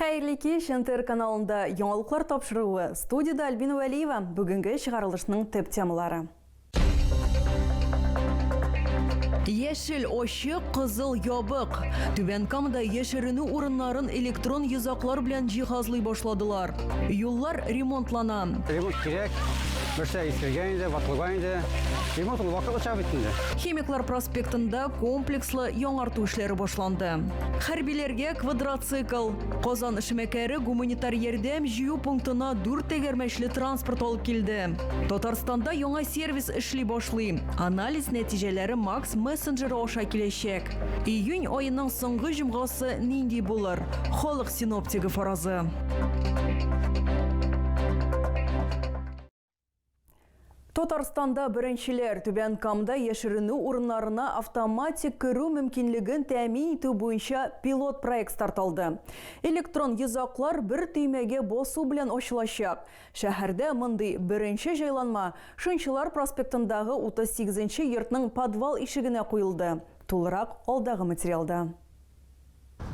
Хәерле кич! НТР каналында яңалыклар тапшыруы. Студиядә Альбина Вәлиева. Бүгенге чыгарылышның төп темалары. Яшел очы, кызыл ябык. Түбән Камада яшеренү урыннарын электрон йозаклар белән җиһазлый башладылар. Юллар ремонтлана. Ремонт кирәк. Берсә искергән инде, ватылган инде. Ремонт ул вакытлыча бит инде. Химиклар проспектында комплекслы яңарту эшләре башланды. Хәрбиләргә Квадроцикл. Казан эшмәкәре гуманитар ярдәм җыю пунктына дүрт тәгәрмәчле транспорт алып килде. Татарстанда яңа сервис эшли башлый. Анализ нәтиҗәләре Макс мессенджеры аша киләчәк. Июнь аеның соңгы җомгасы нинди булыр? Халык синоптигы фаразы. Татарстанда беренчеләр Түбән Камда яшеренү урыннарына автоматик керү мөмкинлеген тәэмин итү буенча пилот проект старт алды. Электрон йозаклар бер төймәгә басу белән ачылачак. Шәһәрдә мондый беренче җайланма Шынчылар проспектындагы 38 нче йортның подвал ишегенә куелды. Тулырак алдагы материалда.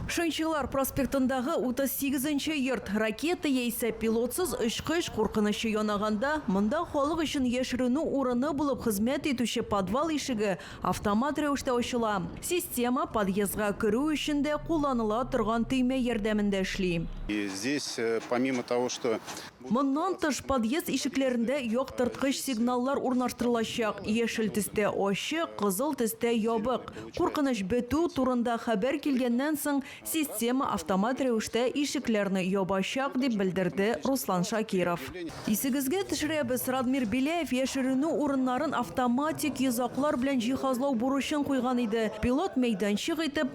Шымчылар проспектындагы 38 нче йорт, ракета яисә пилотсыз очкыч куркынычы янаганда, монда халык өчен яшеренү урыны булып хезмәт итүче подвал ишеге автомат рәвештә ачыла. Система подъездга керү өчен дә кулланыла торган төймә ярдәмендә эшли. Здесь помимо того, что. Моннан тыш, подъезд ишекләрендә яктырткыч сигналлар урнаштырылачак, яшел төстә, ачык, кызыл төстә, ябык. Куркыныч бетү турында хәбәр килгәннән соң, система автомат рәвештә ишекләрне ябачак, дип белдерде Руслан Шакиров. Исегезгә төшерәбез, Радмир Беляев яшеренү урыннарын автоматик йозаклар белән җиһазлау бурычын куйган иде, пилот мәйданчык итеп,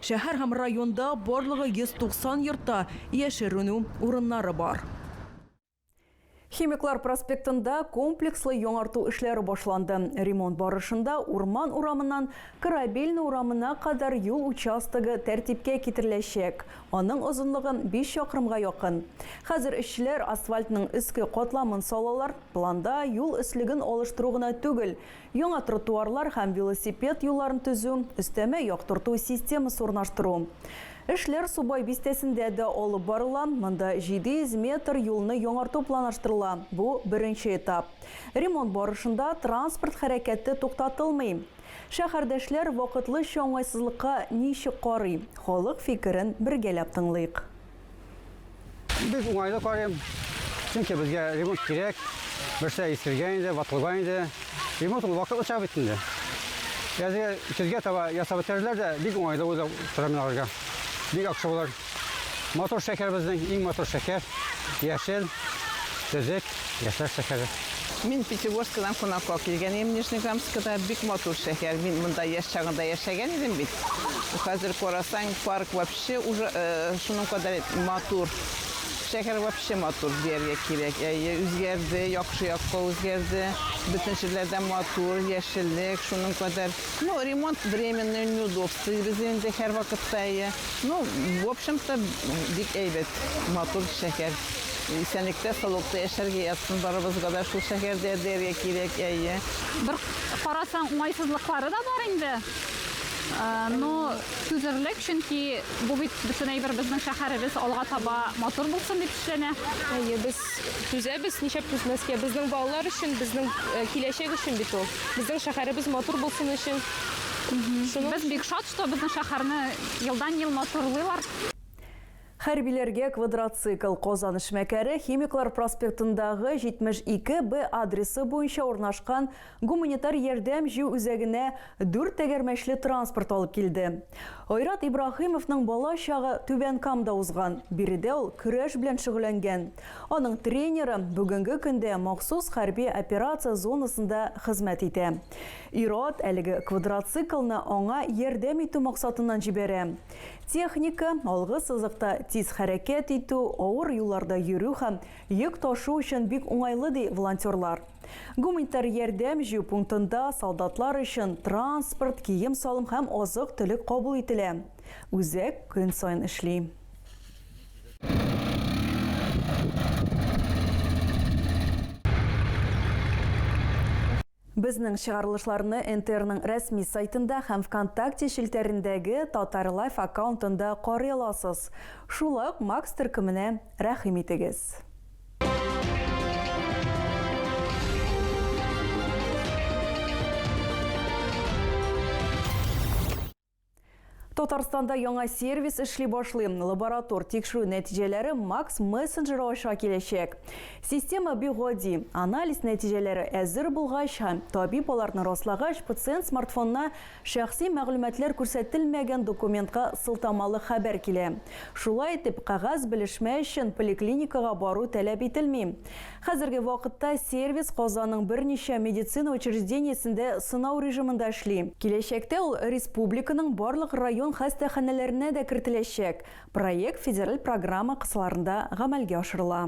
Шәһәр һәм районда барлыгы 190 йортта яшеренү урыннары бар. Химиклар проспектында комплекслы яңарту эшләре башланды. Ремонт барышында Урман урамыннан Корабельный урамына кадәр юл участогы тәртипкә китереләчәк, аның озынлыгы биш чакрымга якын. Хәзер эшчеләр асфальтның өске катламын салалар, планда юл өслеген алыштыру гына түгел, Яңа тротуарлар һәм велосипед юлларын төзү, өстәмә яктырту системасы урнаштыру. Эшләр Субай бистәсендә дә алып барыла, монда 700 метр юлны яңарту планлаштырыла, бу, беренче этап. Ремонт барышында транспорт хәрәкәте туктатылмый. Шәһәрдәшләр вакытлыча уңайсызлыкка ничек карый? Халык фикерен бергәләп тыңлыйк. Бик уңайлы карыйм. Чөнки безгә ремонт кирәк. Берсә искергән инде, ватылган инде. Ремонт ул вакытлыча бит инде. Язга көзгә таба ясап бетерерләр дә бик уңайлы уйлап торам аларга. Бик яхшы булыр. Мотор шәкәр безнең, иң мотор шәкәр. Яшел, төзек, яшьләр шәкәре. Мин Пятигорскадан кунакка килгән идем Нижнеграмскида. Бик матур шәһәр. Мин монда яшь чагында яшәгән идем бит. Хәзер карасаң, парк Шәһәрче уже шуның кадәр матур, шәһәр вообще матур дияргә кирәк. Әйе, үзгәрде, яхшы якка үзгәрде. Бөтен җирләр дә матур, яшеллек шуның кадәр. Ну, ремонт временный, неудобствыйбыз инде һәрвакытта, әйе. Ну, в общем-то, бик әйбәт, матур шәһәр. Исәнлектә, саулыкта яшәргә язсын барыбызга да шул шәһәрдә дияргә кирәк, әйе. Бер карасаң, уңайсызлыклары да бар инде. Но Түзерлек, чөнки бу бит бөтен әйбер безнең шәһәребез алга таба матур булсын дип эшләнә. Әйе, без түзәбез, нишләп түзмәскә? Безнең балалар өчен, безнең киләчәк өчен бит ул. Безнең шәһәребез матур булсын өчен. Без бик шат, что безнең шәһәрне елдан-ел матурлыйлар. Хәрбиләргә квадроцикл Казан эшмәкәре Химиклар проспектындагы 72 Б адресы буенча урнашкан гуманитар ярдәм җыю үзәгенә дүрт тәгәрмәчле транспорт алып килде. Айрат Ибраһимовның бала чагы Түбән Камда узган, биредә ул көрәш белән шөгыльләнгән. Аның тренеры бүгенге көндә махсус хәрби операция зонасында хезмәт итә. Ир-ат әлеге квадроциклны аңа ярдәм итү максатыннан җибәрә. Техника, алгы сызыкта тиз хәрәкәт итү, авыр юлларда йөрү һәм йөк ташу өчен бик уңайлы, ди волонтерлар. Гуманитар ярдәм җыю пунктында солдатлар өчен транспорт, кием-салым һәм азык-төлек кабул ителә. Үзәк көн саен эшли. Безнең чыгарылышларны НТРның рәсми сайтында һәм Вконтакте челтәрендәге Татарлайф аккаунтында карый аласыз. Шул ук Макс төркеменә рәхим итегез. Татарстанда яңа сервис эшли башлый. Лаборатор тикшерү нәтиҗәләре Макс мессенджеры аша киләчәк. Система бик гади. Анализ нәтиҗәләре әзер булгач һәм табиб аларны раслагач, пациент смартфонына шәхси мәгълүматлар күрсәтелмәгән документка сылтамалы хәбәр килә. Шулай итеп, кәгазь белешмә өчен поликлиникага бару таләп ителми. Хәзерге вакытта сервис Казанның берничә медицина учреждениесендә сынау режимында эшли. Киләчәктә ул республиканың барлык район хастаханәләренә дә кертеләчәк. Проект федераль программа кысаларында гамәлгә ашырыла.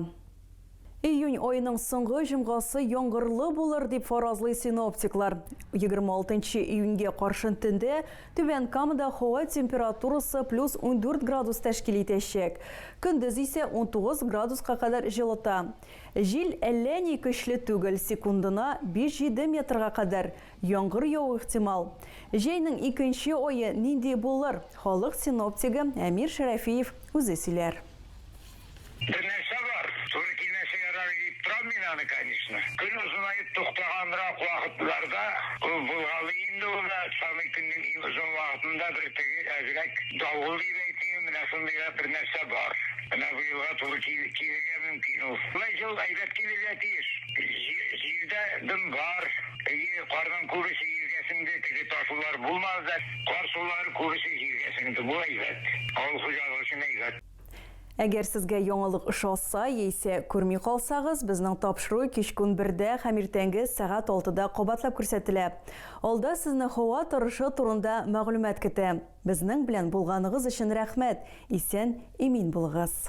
Июнь аеның соңгы җомгасы яңгырлы булыр дип фаразлый синоптиклар. Егерме алтынчы июньгә каршын төндә Түбән Камада һава температурасы плюс ундүрт градус тәшкил итәчәк. Көндез исә унтугыз градуска кадәр җылыта. Җил әллә ни көчле түгел, секундына биш-җиде метрга кадәр. Яңгыр яву ихтимал. Җәйнең икенче ае нинди булыр, халык синоптигы Әмир Шәрәфиев үзе сөйләр. Бер нәрсә бар, туры килмәсә ярар иде дип торам мин аны, конечно. Көн озынаеп туктаганрак вакытларда ул булгалый инде ул да, самый көннең иң озын вакытында бер теге әзрәк давыл дип әйтим, менә шундыйрак бер нәрсә бар. Менә бу елга туры килергә мөмкин ул. Бу ел әйбәт килергә тиеш. Җил дә дым бар. Әйе, карның күбесе җиргә сеңде, теге ташулар булмады да. Кар сулары күбесе җиргә сеңде, бу әйбәт. Авыл хуҗалыгы өчен әйбәт. Әгәр сезгә яңалык ошаса яисә күрми калсагыз, безнең тапшыру кичкун бердә һәм иртәнге сәгать алтыда кабатлап күрсәтелә. Алда сезне һава торышы турында мәгълүмат көтә. Безнең белән булганыгыз өчен рәхмәт, исән, имин булыгыз!